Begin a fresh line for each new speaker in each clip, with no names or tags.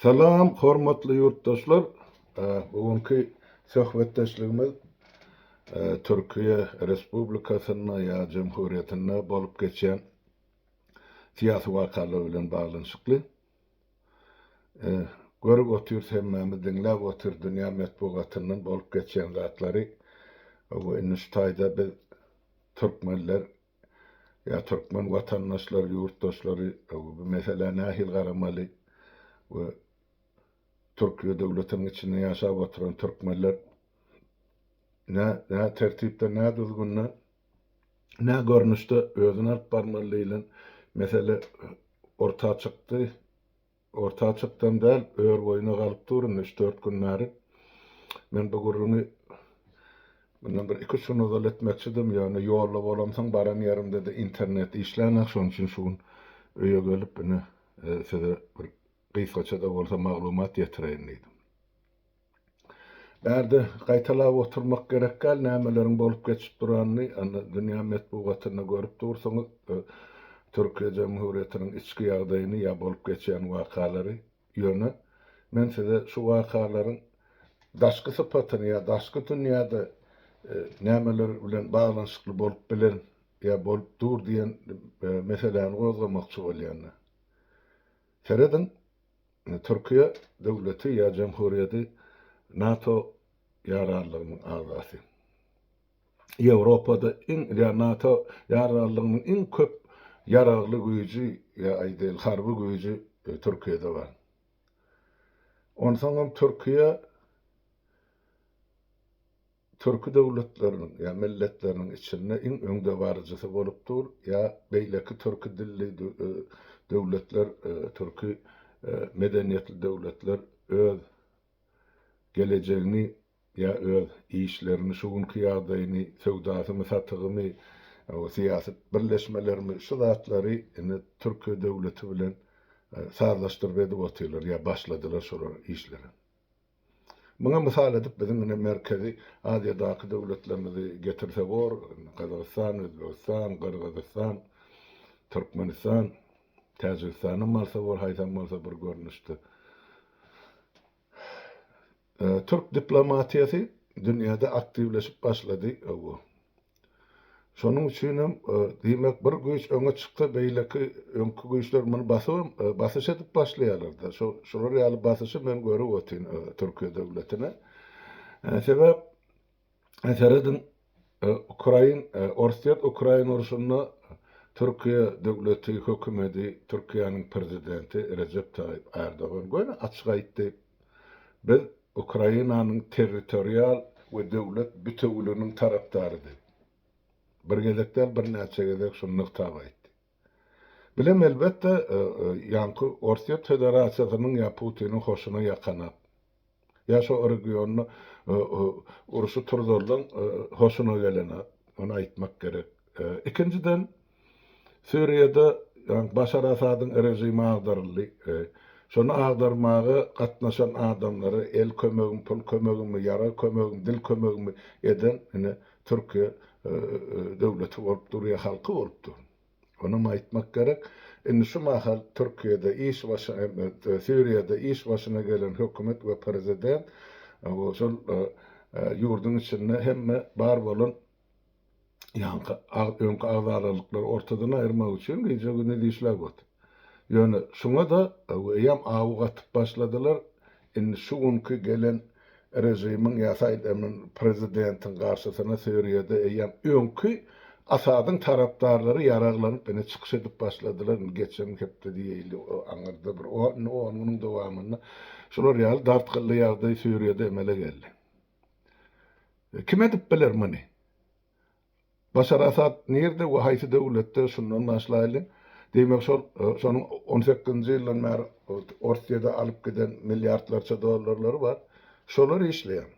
Salam hormatly ýurtdaşlar! Bu günki söhbetdeşligimiz Türkiýe Respublikasynda ýa Jemhurýetinde bolup geçýän syýasy wakalar bilen baglanyşykly. Görüp otyrys hemmämiz, diňläp otyrys dünýä metbugatyndan bolup geçýän zatlary. Indi şu taýda biz türkmenler Ýa türkmen watandaşlary, ýurtdaşlary bu meselä nähili garamaly we Türkiýe döwletiniň içinde ýaşap oturan türkmenler nä tertipde, nä düzgünde, nä görnüşde özüni alyp barmaly diýlen mesele orta çykdy. Orta açykdan däl, ör boýuna galyp dur indi üç-dört gün bäri. Men bu gürrüňi mundan bir iki-üç gün ozal etmekçidim, ýöne ýolda bolamsoň, baran ýerimde-de internet işlänok, şonuň üçin şu gün öýe gelip, ine, size bir gysgaça-da bolsa maglumat ýetireýin diýdim. Bärde gaýtalap oturmak gerek däl, nämeleriň bolup geçip duranyny dünýä metbugatynda görüp dursuňyz. Türkiýe Jemhurýetiniň içki ýagdaýyny ýa bolup geçýän wakalary. Ýöne men size şu wakalaryň daşky sypatyny ýa daşky dünýäde nämeler bilen baglanyşykly bolup bilen ýa bolup dur diýen meseläni gozgamakçy bolýan. Serediň! Türkiýe döwleti ýa jemhuriýeti NATO ýararlygynyň agzasy. Ýewropada iň ýa NATO ýararlygynyň iň köp ýaragly güýji ýa aýdaýly harby güýji Türkiýede bar. Onsoňam Türkiýe Türki döwletleriniň ýa milletleriniň içinde iň öňdebaryjysy bolup dur ýa beýleki türki dilli döwletler türki medeniýetli döwletler öz gelejegini ýa öz işlerini şu günki ýagdaýyny söwdasymy satygymy syýasy birleşmelerimi şu zatlary indi türki döwleti bilen sazlaşdyryp edip otyrlar ýa başladylar şolar işlere Muňa mysal edip biziň ine Merkezi Aziýadaky döwletlerimizi getirse bor, Gazagystan, Özbegistan, Gyrgyzystan, Türkmenistan, Täjigistanam alsa bor haýsam bolsa bir görnüşde. Türk diplomatiýasy dünýäde aktiwleşip başlady, hawa. Şonuň üçin hem, diýmek, bir güýç öňe çyksa, beýleki, öňki güýçler muny basybam, basyş edip başlaýarlar-da. Şo, şular ýaly basyşy men görüp otyryn Türkiýe döwletine. Sebäp, serediň, ukrain, orsýet, ukrain urşunda Türkiýe döwleti, hökümedi, Türkiýäniň prezidenti Rejep Taýyp Ärdogan göni açyk aýtdy, Biz, Ukrainanyň territorial we döwlet bitewüliginiň tarapdary diýip, bir gezek däl, birnäçe gezek şuny nygtap aýtdy. Bilen, elbetde, ýaňky Orsýet Federasiýasynyň ýa Putiniň hoşuna ýakanak, ýa şo regionda urşy turzalyň hoşuna gelenak, ony aýtmak gerek. Ikinjiden. Suriýada Başar Asadyň režimi agdaryldy. Şony agdarmaga gatnaşan adamlara el kömegimi, pul kömegimi, ýarag kömegimi, dil kömegimi eden ine Türkiýe döwleti bolup durýar, halky bolup dur. Onam aýtmak gerek. Indi şu mahal Türkiýede iş başyna, Suriýada iş başyna gelen hökümet we prezident şol ýurduň içinde hemme bar bolan Ýaňky öňki agzararlyklary ortadan aýyrmak üçin gije-gündiz işläp otyr. Ýöne şuňa-da eýýäm awy gatyp başladylar, indi şu günki gelen režimiň ýa saýlanan prezidentiň garşysyna Siriýada eýýäm öňki Asadyň tarapdarlary ýaraglanyp ine çykyş edip başladylar, indi geçen hepde diýeýli aňyrda bir on günüň dowamynda şular ýaly dartgynly ýagdaý Siriýada emele geldi. Kim edip biler muny? Başar Asad nirde we haýsy döwletde şundan başlaýly, diýmek şol şonuň on sekizinji ýyldan bäri Orsýede alyp giden milliardlarça dollarlary bar. Şolar işleýär.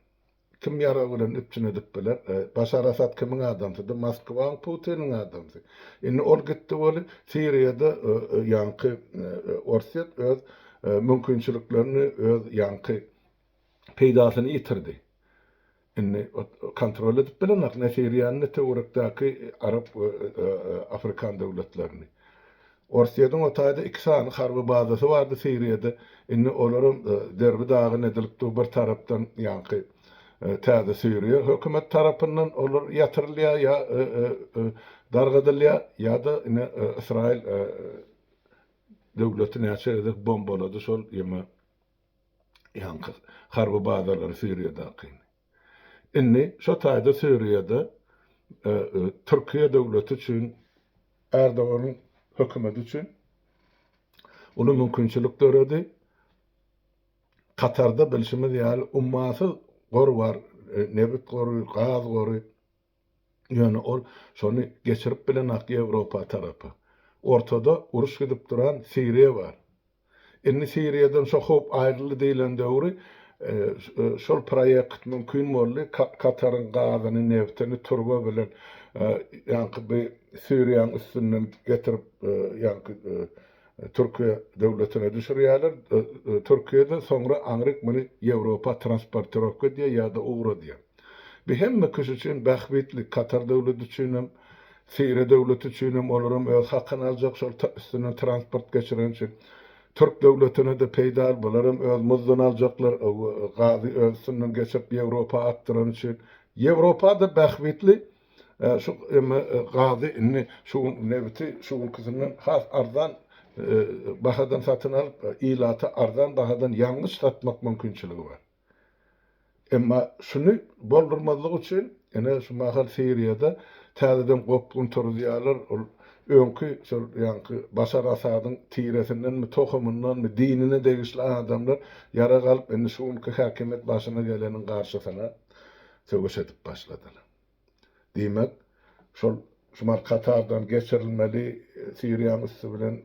Kim ýarag bilen üpjün edip biler? Başar Asad kimiň adamsydy? Moskwaň, Putiniň adamsy. Indi ol gitdi weli, Siriýada ýaňky Orsýet öz mümkinçiliklerini öz ýaňky peýdasyny ýitirdi. Indi kontrol edip bilenok ne Siriýany, ne töwerekdäki arap we afrikan döwletlerini. Orsýetiň o taýda iki sany harby bazasy bardy Siriýada, indi olaram derbi dagyn edilip dur bir tarapdan ýaňky täze Siriýa hökümet tarapyndan olar ýatyrylýar ýa dargadylýar ýa-da ine Ysraýyl döwleti näçe gezek bombalady şol ýeme Ýaňky harby bazalary Siriýadaky. Indi şo taýda Siriýada Türkiýe döwleti üçin Erdoganyň hökümeti üçin uly mümkinçilik döredi. Katarda bilşimiz ýaly ummasyz gor bar, nebit gory, gaz gory. Ýöne ol şony geçirip bilenok Ýewropa tarapa. Ortada uruş gidip duran Siriýa bar. Indi Siriýadan şo howp aýryldy diýlen döwri şol proýekt mümkin boldy. Kataryň gazyny, neftini turba bilen ýaňky bi Siriýaň üstünden getirip ýaňky Türkiýe döwletine düşürýärler. Türkiýede soňra aňryk muny Ýewropa transportirowka diýýär ýa-da ugra diýýär. Bu hemme kişi üçin bähbitli, Katar döwleti üçin hem, Siriýa döwleti üçin hem, olar hem öz hakyny aljak şol üstünden transport geçireni üçin. Türk döwletine-de peýdaly, bular hem öz muzduny aljaklar, gazy öz üstünden geçirip Ýewropa akdyrany üçin. Ýewropa-da bähbitli, Ä, şu, emma gazy indi şu gün nebiti şu günküsinden has arzan bahadan satyn alyp, ilata arzan bahadan ýangyç satmak mümkinçiligi bar. Emma şuny boldurmazlyk üçin, ine, şu mahal Siriýada täzeden gopgun turuzýarlar, ol öňki şol ýaňky Başar Asadyň tiresindenmi, tohumyndanmy, dinine degişli adamlar ýarag alyp, indi şu günki häkimiýet başyna geleniň garşysyna söweş edip başladylar. Diýmek, şol şumal Katardan geçirilmeli, Siriýaň üsti bilen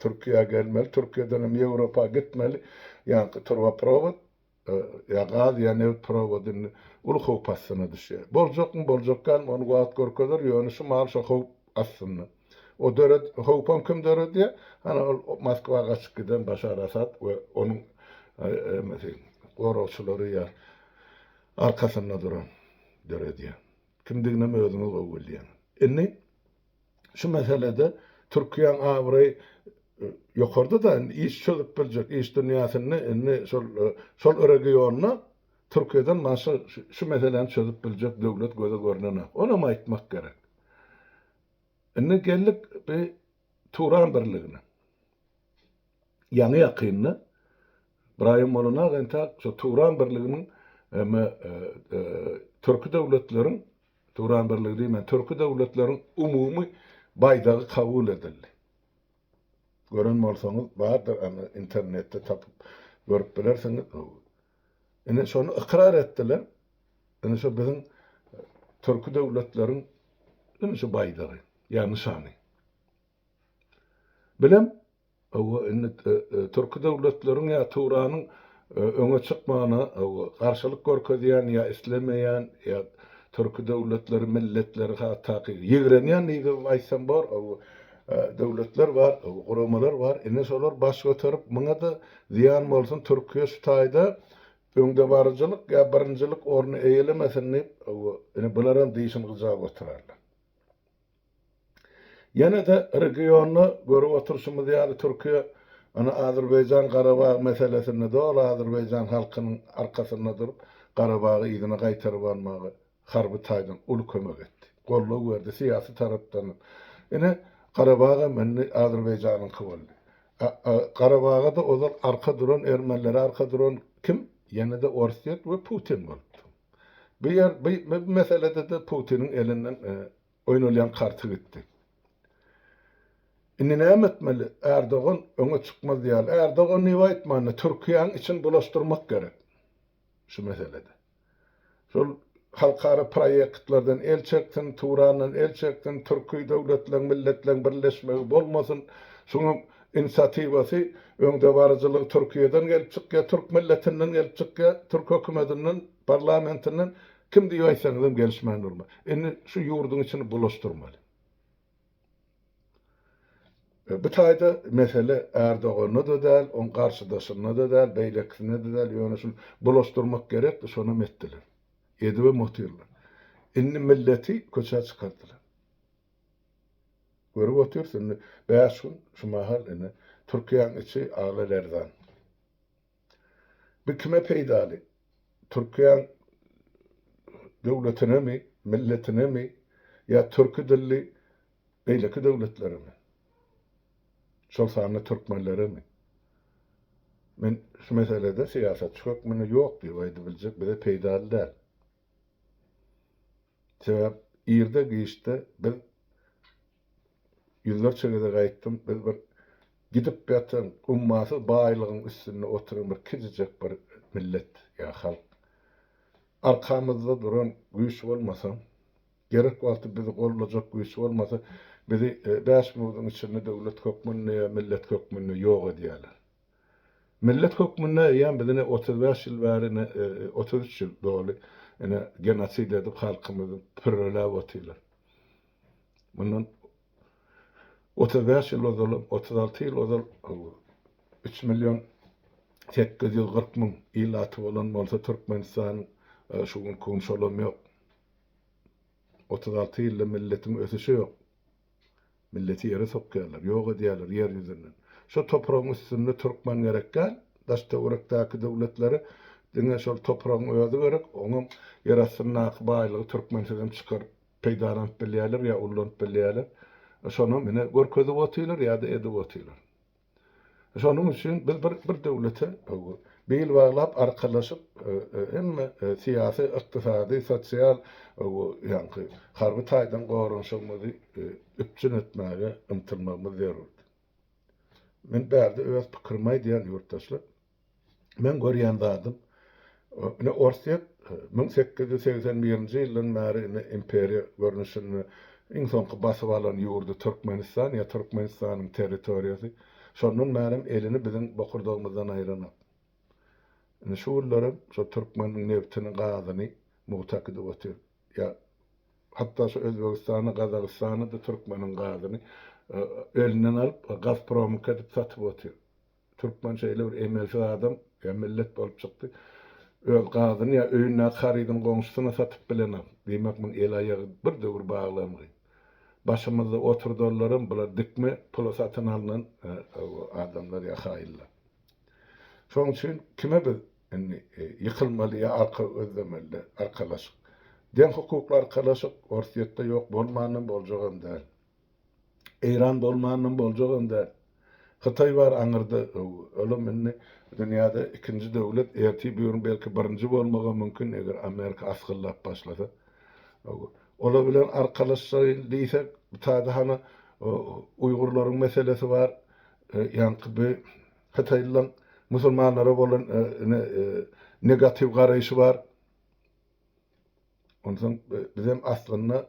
Türkiýä gelmeli, Türkiýeden hem Ýewropa gitmeli ýaňky turbaprowod, ýa gaz, ýa nebit prowody indi uly howp astyna düşýär. Boljakmy, boljak dälmi, ony wagt görkezer, ýöne şu mahaly şo howp astynda. O döred, howpam kim döredýär? Hany ol Moskwa gaçyp giden Başar Asad we onuň, emesi, goragçylary ýa arkasynda duran döredýän kimdiginem özüňiz gowy bilýäňiz. Indi şu meselede Türkiýäň abraýy ýokarda-da indi iş çözüp biljek, iş dünýäsinde indi şol şol regionda Türkiýeden başga şu meseläni çözüp biljek döwlet göze görnenok. Onam aýtmak gerek. Indi geldik bi Turan birligine. Ýaňy-ýakynda Braýan Molonax entäk şu Turan birliginiň me Türki döwletleriň Turan birligi diýmän, Türki döwletleriň umumy baýdagy kabul edildi. Gören bolsaňyz bardyr, anda internetde tapyp görüp bilersiňiz. Indi şony ykrar etdiler. Indi şu biziň Türki döwletleriň indi şu baýdagy, ýa nyşany. Bilem, hawa, indi türki döwletleriň ýa Tuwranyň öňe çykmagyna garşylyk görkezýän ýa islemeýän ýa türki döwletleri, milletleri hatdaky ýigrenýän diýibem aýtsam bor, hawa, döwletler bar, guramalar bar. Indi şolar baş göterip, muňa-da zyýan bolsun, Türkiýe şu taýda öňdebaryjylyk ýa birinjilik orny eýelemesin diýip, hawa, indi bularam dişini gyjap oturarlar. Ýene-de regionda görüp oturyşymyz ýaly Türkiýe ony Azerbaýjan Garabag meselesinde doly Azerbaýjan halkynyň arkasynda durup Garabagy yzyna gaýtaryp almaga harby taýdan uly kömek etdi, goldaw berdi syýasy tarapdan hem. Ine Garabag hem indi Azerbaýjanyňky boldy. Garabaga-da ozal arka duran ermenlere arka duran kim? Ýene-de Orsýet we Putin bolupdy. Bu ýer bu meselede-de Putiniň elinden oýnalýan karty gitdi. Indi näme etmeli? Erdogan öňe çykmaz ýaly. Erdogan niwe aýtmanda, Türkiýäň içini bulaşdyrmak gerek şu meselede. Şol halkara proýektlerden el çeksin, Turandan el çeksin, türki döwletleriň, milletleriň birleşmegi bolmasyn. Şuňa Inisiatiwasy, öňdebaryjylygy Türkiýeden gelip çykýar, türk milletinden gelip çykýar, türk hökümetinden, parlamentinden, kim diýip aýtsaňyzam gelişmän durmaz. Indi şu ýurduň içini bulaşdyrmaly. Bu taýda mesele Ärdoganda-da däl, oň garşydaşynda-da däl, beýlekisinde-de däl, ýöne şuny bulaşdyrmak gerekdi, şonam etdiler. Edibem otyrlar. Indi milleti köçä çykardylar. Görüp otyrys indi bäş gün şu mahal indi Türkiýäň içi ala lerzan. Bu kime peýdaly? Türkiýäň döwletinemi, milletinemi ýa türki dilli beýleki döwletleremi? Şol sanda türkmenleremi? Men şu meselede syýasatçy hökmünde ýok diýip aýdybiljek bize peýdaly däl. Sebäp irde giçde biz ýüzlerçe gezek aýtdym biz bir gidip ýatan ummasyz baýlygyň üstünde oturan bir kiçijek bir millet ýa halk. Arkamyzda duran güýç bolmasa, gerek wagty bizi goldajak güýç bolmasa bizi bäş munudyň içinde döwlet hökmünde ýa millet hökmünde ýok edýäler. Millet hökmünde eýýäm biz ine otuz bäş ýyl bäri ine otuz üç ýyl doly ine genosid edip halkymyzy pürreläp otyrlar. Mundan otuz bäş ýyl ozalam otuz alty ýyl ozal üç million sekiz ýüz kyrk müň ilaty bolan bolsa Türkmenistanyň şu günki gün şolam ýok. Otuz alty ýylda milletiň ösüşi ýok. Milleti ýere sokýarlar, ýok edýärler ýer ýüzünden. Şo topragyň üstünde türkmen gerek däl, daş-töwerekdäki döwletlere diňe şol topragyň özi gerek, oňam ýer astyndaky baýlygy türkmensizem çykaryp peýdalanyp bilýärler ýa ullanyp bilýärler. Şonam ine görkezip otyrlar ýa-da edip otyrlar. Şonuň üçin biz bir bir döwlete bil baglap arkalaşyp hemme syýasy, ykdysady, sosial ýaňky harby taýdan goranyşygymyzy üpjün etmäge ymtylmagymyz zerurdy. Men bärde öz pikirimi aýdýan ýurtdaşlar. Meň görýän zadym, ine, Orsýet müň sekiz ýüz segsen birinji ýyldan bäri ine imperiýa görnüşinde iň soňky basyp alan ýurdy Türkmenistan ýa Türkmenistanyň territoriýasy. Şondan bärem elini biziň bokurdagymyzdan aýranok. Ine, şu günlerem şol türkmeniň nebtini, gazyny mugtak edip otyr. Ýa hatda şu Özbegistany, Gazagystany-da türkmeniň gazyny elinden alyp, Gazpromyňky edip satyp otyr. Türkmen şeýle bir emelsiz adam ýa millet bolup çykdy. Öz gazyny ýa öýündäki harydyny goňşusyna satyp bilenok. Diýmek muny el-aýagy bir döwür baglangy. Başymyzda oturdanlaram bular dikme pula satyn alnan adamlar ýa haýynlar. Şoň üçin kime biz indi ýykylmaly ýa arka gözlemeli arkalaşyk. Deň hukukly arkalaşyk Orsýetde ýok bolmanam boljagam däl. Eýran bolmanam boljagam däl. Hytaý bar aňyrda öw. Olam indi dünýäde ikinji döwlet, ertir bir gün belki birinji bolmagam mümkin eger Amerika asgyllap başlasa. Öw. Olar bilen arkalaşaýyn diýsek bu taýda hany uýgurlaryň meselesi bar. Ýaňky bi hytaýlylaň musulmanlara bolan ne negatiw garaýşy bar. Onsoň bizem aslynda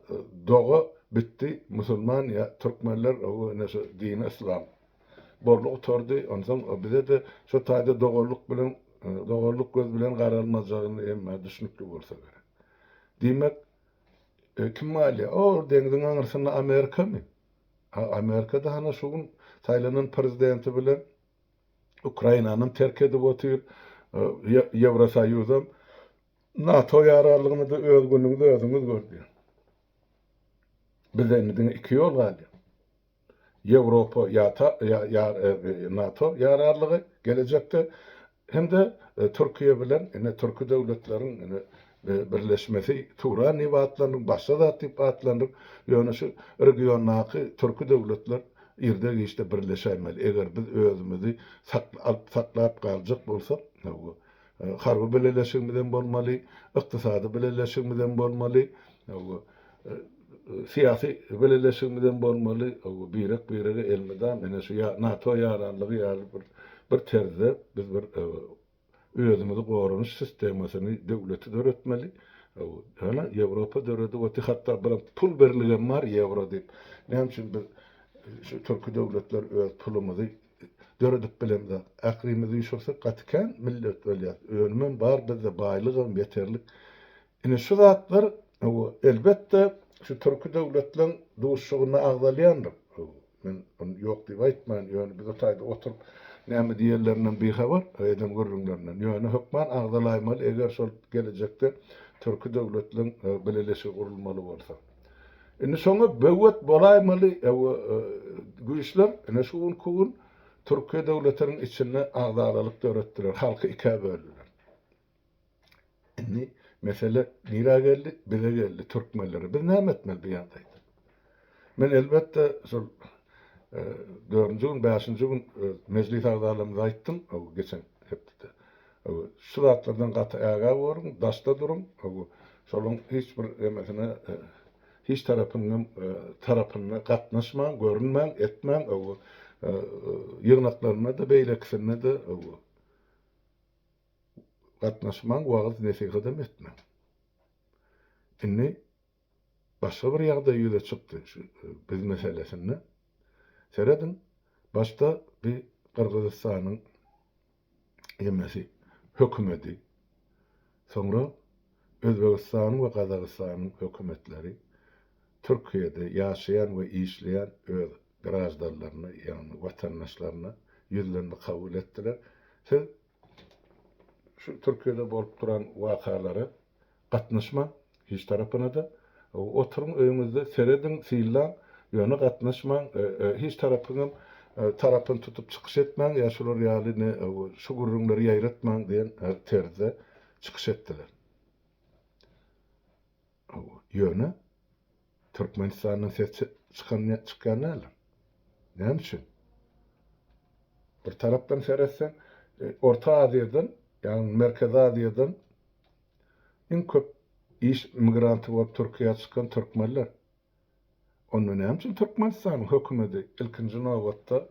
doga bitdi, musulman ýa türkmenler ine şu dini yslam borly gutardy. Onsoň bize-de şu taýda doganlyk bilen, doganlyk göz bilen garalmajagyny hem düşnükli bolsa gerek. Diýmek, kim galýar? O, deňziň aňrysynda Amerikamy? A Amerika-da hany şu gün saýlanan prezidenti bilen Ukrainany terk edip otyr, Ýewrosoýuzam NATO ýararlygyny-da öz günüňiz özüňiz gördi. Bize indi diňe iki ýol galýar. Ýewropa ýata ýa NATO ýararlygy gelejekde hem-de Türkiýe bilen ine türki döwletleriň ine birleşmesi Turan diýip atlandyryp, başga zat diýip atlandyryp, ýöne şu regiondaky türki döwletler irde-giçde birleşäýmeli. Eger biz özümizi alyp saklap galjak bolsak, hawa, Harby bileleşigimiz hem bolmaly, ykdysady bileleşigimiz hem bolmaly, syýasy bileleşigimiz hem bolmaly, birek-birege elmydam ine şu NATO ýaranlygy ýaly bir terzde biz bir özümizi goranyş sistemasyny, döwleti döretmeli. Ýöne Ýewropa döredip otyr, hatda bir pul birligem bar, ýewro diýip. Näme üçin biz şu türki döwletler öz pulumyzy Döredip bilemzok. Ährimizi üşürsek gaty kän millet bolýas. Önümem bar bizde baýlygam ýeterlik. Ine şu zatlar elbetde şu türki döwletleň duşugynda agzalýandyr. Men ony ýok diýip aýtmaýan. Ýöne biz o taýda oturyp näme diýerlerinden bihabar, eden gürrüňlerinden. Ýöne hökman agzalaýmaly eger şol gelejekde türki döwletleň bileleşigi gurulmaly bolsa. Indi şoňa böwet bolaýmaly güýçler ine şu günki gün Türkiýe döwletiniň içinde agzalalyk döretdiler, halky ikä böldüler. Indi mesele nirä geldi? Bize geldi, türkmenlere. Biz näme etmeli bu ýagdaýda? Men elbetde şol dördünji gün, bäşinji gün mejlis agzalarymyza aýtdym, geçen hepdede. Şu zatlardan gaty ägä boluň, daşda duruň. Şolaryň hiç bir emesine, hiç tarapynyň tarapyna gatnaşmaň, görünmäň, etmäň. Ýygnaklarynda-da, beýlekisinde-de gatnaşmaň, wagyz-nesihatam etmäň. Indi. Başga bir ýagdaý ýüze çykdy şu biz meselesinde. Serediň, başda bi Gyrgyzystanyň emesi, hökümedi, soňra Özbegistanyň we Gazagystanyň hökümetleri Türkiýede ýaşaýan we işleýän öz graždanlaryna, ýagny watandaşlaryna ýüzlenme kabul etdiler. Siz Şu Türkiýede bolup duran wakalara gatnaşmaň hiç tarapynada. Oturyň öýüňizde serediň, syllaň, ýöne gatnaşmaň, hiç tarapyňam tarapyny tutup çykyş etmäň ýa şular ýaly ne şu gürrüňleri ýaýratmaň diýen terzde çykyş etdiler. Ýöne Türkmenistandan ses çykan çykýan däldir. Näme üçin? Bir tarapdan seretseň, e, Orta Aziýadan, ýagny Merkezi Aziýadan iň köp iş migranty bolup Türkiýä çykan türkmenler. Onda näme üçin Türkmenistanyň hökümeti ilkinji nobatda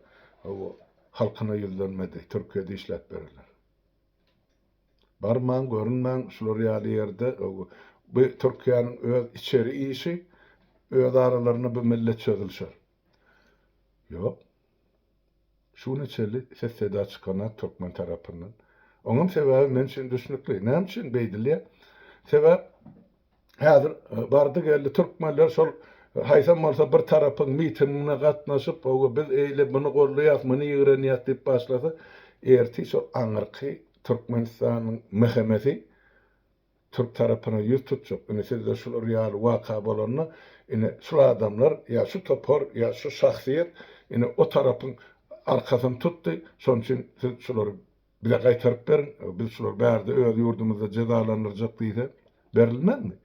halkyna ýüzlenmedi, Türkiýede işläp berenler? Barmaň görünmäň şular ýaly ýerde bu Türkiýäniň öz içeri işi öz aralarynda bu millet çözülişer. Ýok. Şuna çenli ses seda çykanok türkmen tarapyndan. Oňam sebäbi men üçin düşnükli. Näme üçin beýdilýär? Sebäp Häzir bardy-geldi türkmenler şol haýsam bolsa bir tarapyň mitingine gatnaşyp, hawa, biz eýle muny goldaýas, muny ýigrenýäs diýip başlasa, ertir şol aňyrky Türkmenistanyň MHM-si türk tarapyna ýüz tutjak. Indi sizde şular ýaly waka bolanda, indi şul adamlar ýa şu topar, ýa şu şahsyýet indi o tarapyň arkasyny tutdy, şonuň üçin siz şulary Bize gaýtaryp beriň, biz şulary bärde öz ýurdumyzda jezalandyrjak diýse, berilmezmi?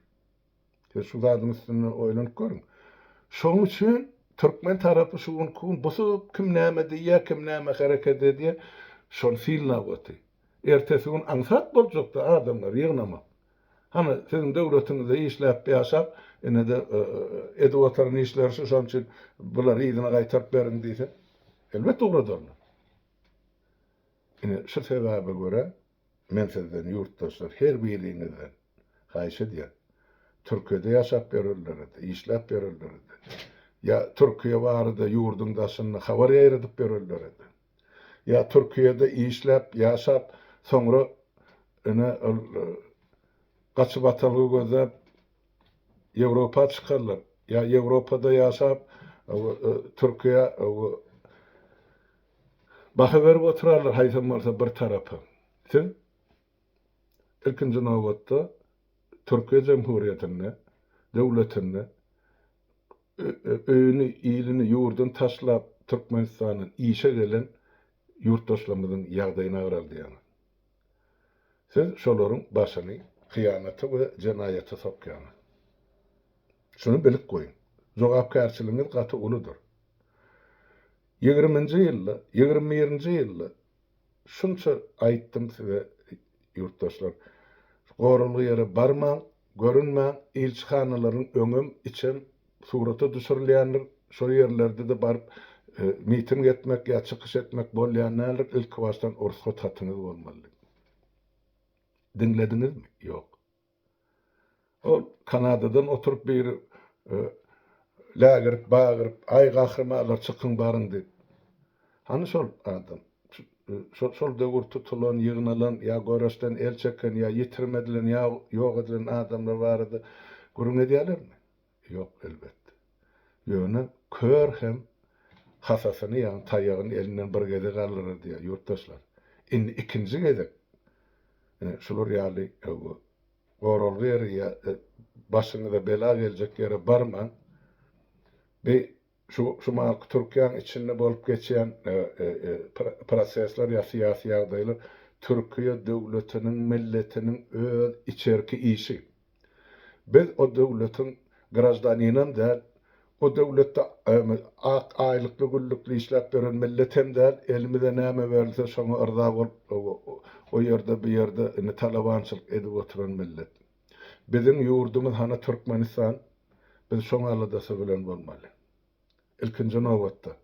Siz şu zadyň üstünde oýlanyp görüň. Şonuň üçin türkmen tarapy şu günki gün busup, kim näme diýýär, kim näme hereket edýär, şony synlap otyr. Ertesi gün aňsat boljak-da adamlary ýygnamak. Hany, siziň döwletiňizde işläp-ýaşap, ine-de edip oturan işleri şu, şonuň üçin bulary yzyna gaýtaryp beriň diýse, elbetde ugradarlar. Ine, şu sebäbe görä, men sizden, ýurtdaşlar, her biriňizden haýyş edýän. Türkiýede ýaşap ýörenlere-de, işläp ýörenlere-de, ýa Türkiýe barada ýurduň daşynda habar ýaýradyp ýörenlere-de, ýa Türkiýede işläp, ýaşap, soňra, ine, ol gaçyp atalgy gözläp, Ýewropa çykanlar, ýa Ýewropada ýaşap, Türkiýe Baha berip oturarlar haýsam bolsa bir tarapa. Siz, ilkinji nobatda, Türkiýe Jemhuriýetinde, döwletinde öýüni, ilini, ýurduny taşlap, Türkmenistana işe gelen ýurtdaşlarymyzyň ýagdaýyny agraldýaňyz. Siz şolaryň başyny hyýanata we jenaýata sokýaňyz. Şuny bilip goýuň. Jogapkärçiligiňiz gaty uludyr. Ýigriminji ýylda, ýigrimi birinji ýylda şunça aýtdym size ýurtdaşlar, gorulgy ýere barmaň, görünmäň, ilçihanalaryň öňem, içem surata düşürilýändir, şol ýerlerde-de baryp miting etmek ýa çykyş etmek bolýan däldir, ilkibaşdan rugsat hatyňyz bolmaly diýdim. Diňlediňizmi? Ýok. Ol Kanadadan oturyp bir lägirip bagyryp, Aý gahrymalar çykyň baryň diýip. Hany şol adam? Şol döwür tutulan, ýygnalan, ýa göreşden el çeken, ýa ýitirim edilen, ýa ýok edilen adamlar barada gürrüň edýärlermi? Ýok, elbetde. Ýöne kör hem hasasyny, ýagny taýagyny elinden bir gezek aldyrar diýýär, ýurtdaşlar. Indi ikinji gezek ine, şular ýaly öwgi, goralga ýeri ýa-da başyňyza bela geljek ýere barmaň. Bi Şu şumalky Türkiýäň içinde bolup geçýän prosesler ýa syýasy ýagdaýlar Türkiýe döwletiniň, milletiniň öz içerki işi. Biz o döwletiň graždaninam däl, o döwletde ak aýlykly güllükli işläp ýören millet hem däl, elimize näme berilse şoňa yrza bolup o ýerde bu ýerde indi talabançylyk edip oturan millet. Biziň ýurdumyz hany Türkmenistan biz şoň aladasy bilen bolmaly. Ilkinji nobatda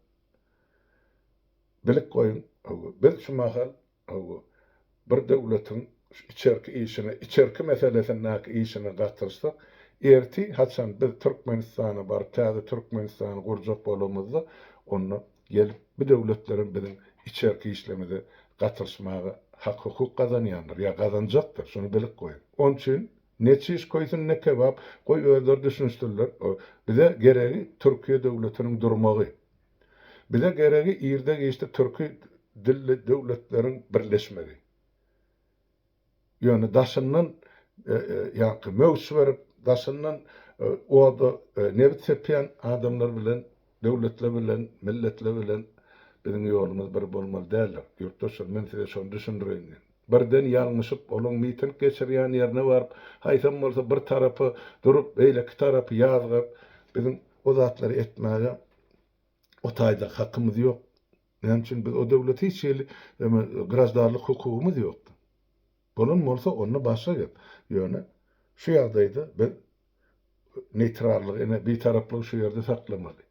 bilip goýuň hawa biz şu mahal hawa bir döwletiň şu içerki işine içerki meselesindäki işine gatyrsak ertir haçan biz Türkmenistana baryp täze Türkmenistany gurjak bolamyzda onda Gelip bu döwletlerem biziň içerki işlerimize gatyryşmaga hak-hukuk gazanýandyr ýa gazanjakdyr, şuny bilip goýuň. Ony üçin ne çiş köýsün, ne kebap, goý özleri düşünişdirler. Bize geregi Türkiýe döwletiniň durmagy. Bize geregi irde-giçde türki dilli döwletleriň birleşmegi. Ýöne daşyndan ýaňky möwç berip, daşyndan oda nebit sepýän adamlar bilen, döwletler bilen, milletler bilen biziň ýolumyz bir bolmaly däldir. Ýurtdaşlar, men size şony düşündireýin diýen. Birden ýalňyşyp, olaň miting geçirýän ýerine baryp, haýsam bolsa bir tarapy durup, beýleki tarapy ýazgap, biziň o zatlary etmäge O taýda hakymyz ýok. Näme üçin biz o döwlet hiç hili graždarlyk hukugymyz ýokdy. Bolan bolsa onda başga gep. Ýöne şu ýagdaýda biz neýtrallygy ine bitaraplygy şu ýerde saklamaly.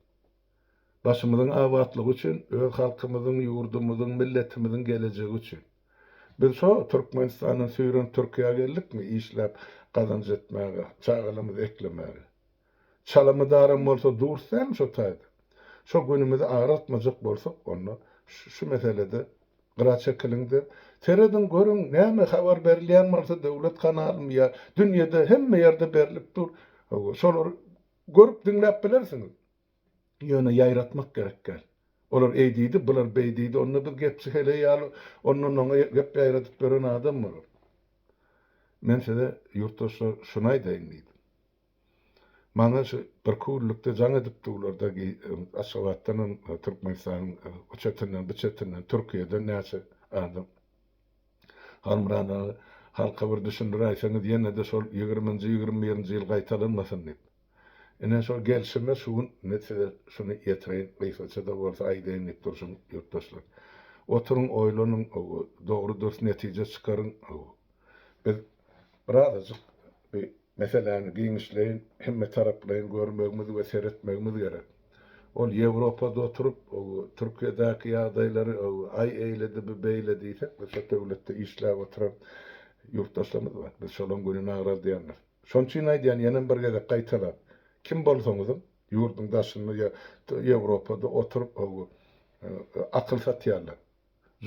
Başymyzyň abatlygy üçin öz halkymyzyň ýurdumyzyň milletimiziň gelejegi üçin. Biz şo Türkmenistandan süýrenip Türkiýä geldikmi işläp gazanç etmäge çagalarymyzy eklemäge. Çalamydaram bolsa durus dälmi şo taýda? Şo günümizi agraltmajak bolsak, onda şu meselede gyra çekiliň-de, serediň görüň, näme habar berilýän bolsa döwlet kanalymy ýa dünýede hemme ýerde berlip dur, hawa, şolary görüp-diňläp bilersiňiz. Ýöne ýaýratmak gerek däl. Olar eý diýdi, bular beý diýdi, onda biz gepçi heleý ýaly ondan-oňa gep ýaýradyp ýören adam bolarys. Men size, ýurtdaşlar, şuny aýdaýyn diýdim. Maňa şu bir küllükde jaň edip durlarda Aşgabatdan hem Türkmenistanyň o çetinden bu çetinden Türkiýeden näçe adam. Halmyrat aga halka bir düşündiräýseňiz ýene-de şol ýigriminji ýigrimi birinji ýyl gaýtalanmasyn diýip. Ine şol gelşime şu gün men size şuny ýetireýin gysgaça-da bolsa aýdaýyn diýip durşum ýurtdaşlar. Oturyň oýlanyň dogry-dürs netije çykaryň. Biz birazajyk Meseläni giňişleýin, hemmetaraplaýyn görmegimiz we seretmegimiz gerek. Ol Ýewropada oturyp, Türkiýedäki ýagdaýlary aý eýledi, bu beýle diýsek, biz şo döwletde işläp oturan ýurtdaşlarymyz bar. Biz şolaryň gününi agradýandyr. Şonuň üçin aýdýan, ýenem bir gezek gaýtalap, kim bolsaňyzam, ýurduň daşynda ýa Ýewropada oturyp, akyl satýarlar.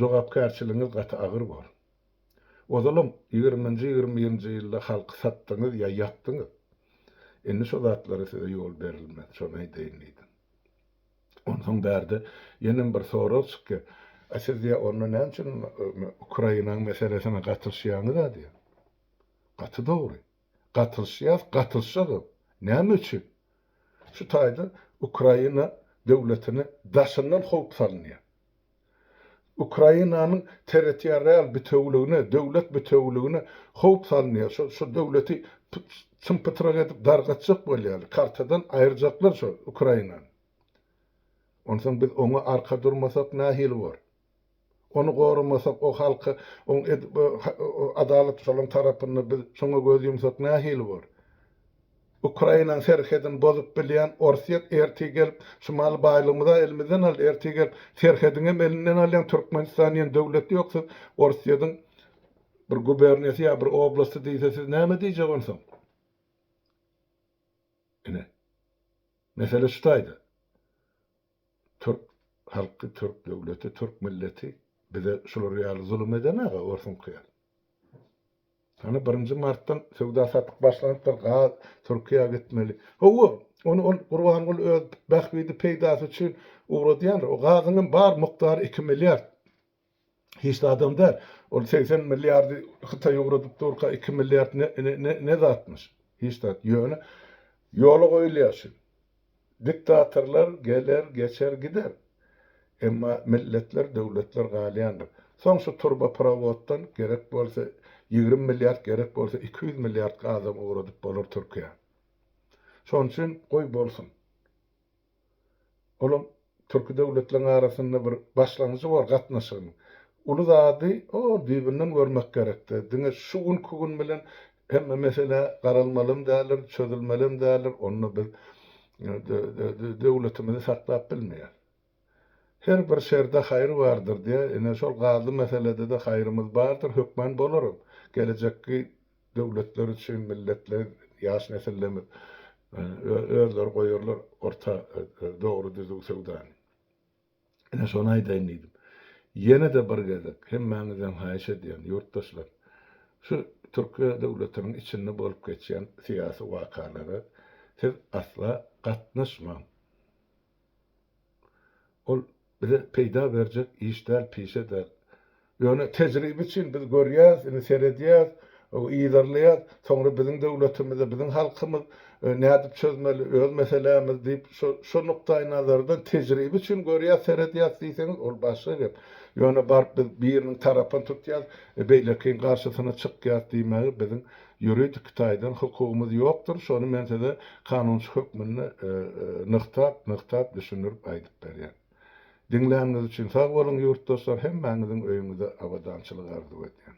Jogapkärçiligiňiz gaty agyr bor. Ozalam ýigriminji ýigrimi birinji ýylda halky satdyňyz ýa ýakdyňyz. Indi şo zatlara size ýol berilmez, şony aýdaýyn diýdim. Onsoň bärde ýenem bir sorag çykýar, A siz ýa onda näme üçin Ukrainaň meselesine gatyşýaňyz-a diýýär. Gaty dogry. Gatylyşýas, gatylyşagam. Näme üçin? Şu taýda Ukraina döwletine daşyndan howp salynýar. Ukrainanyň territorial bitewüligine, döwlet bitewüligine howp salynýar. Şo, şo döwleti çym-pytrak edip dargatjak bolýarlar. Kartadan aýyrjaklar şo Ukrainany. Onsoň biz oňa arka durmasak nähili bor? Ony goramasak o halky oň edip adalat şolaň tarapynda biz şoňa göz ýumsak nähili bor. Ukrainaň serhedini bozup bilýän Orsýet ertir gelip şumaly baýlygymyza elimizden aldy ertir gelip serhediňem elinden alýan Türkmenistan diýen döwlet ýok siz Orsýediň bir guberniýasy ýa bir oblasty diýse siz näme diýjek onsoň. Ine. Mesele şu taýda. Türk halky türk döwleti türk milleti bize şular ýaly zulum eden aga orsuňky ýaly. Hany birinji martdan söwda satyk başlanypdyr gaz türkiýä gitmeli. Howwa ony ol gurbanguly öz bähbidi peýdasy üçin ugradýandyr o gazyňam bar mukdary iki milliard. Hiç zadam däl. Ol segsen milliardy Hytaý ugradyp durka, iki milliard ne zatmyş? Hiç zat. Ýöne ýola goýulýar şu. Diktatorlar geler, geçer, gider. Emma milletler, döwletler galýandyr. Soň şu turba prowoddan gerek bolsa ýigrimi milliard, gerek bolsa iki ýüz milliard adam ugradyp bolar Türkiýä. Şonuň üçin goý bolsun. Olam türki döwletleriň arasynda bir başlangyjy bor gatnaşygyň. Uly zady o düýbünden görmek gerekdi. Diňe şu günki gün bilen hemme mesele garalmalam däldir, çözülmelem däldir. Onda biz döwletimizi saklap bilmeýäs. Her bir şerde haýyr bardyr diýýär. Ine şol gazly meselede-de haýyrymyz bardyr, hökman bolarys. Gelejekki Döwletler üçin milletler, ýaş nesillerimiz özleri goýarlar orta dogry düzüw söwdany. Ine şony aýdaýyn diýdim. Ýene-de bir gezek hemmäňizden haýyş edýän ýurtdaşlar, şu Türkiýe döwletiniň içinde bolup geçýän syýasy wakalara siz asla gatnaşmaň. Ol bize peýda berjek iş däl, pişe däl. Ýöne tejribe üçin biz görýäs, indi seredýäs, yzarlaýas, soňra biziň döwletimize, biziň halkymyz nädip çözmeli öz meselämizi diýip, şo nukdaýnazardan tejribe üçin görýäs, seredýäs diýseňiz, ol başga gep. Ýöne baryp biz biriniň tarapyny tutýas, beýlekiniň garşysyna çykýas diýmäge biziň Ýuridik taýdan hukugymyz ýokdur, şony men size kanunçy hökmünde nygtap, nygtap düşündirip aýdyp berýän. Diňläniňiz üçin sag boluň ýurtdoşlar hemmäňiziň öýüňize abadançylyk arzuw edýän.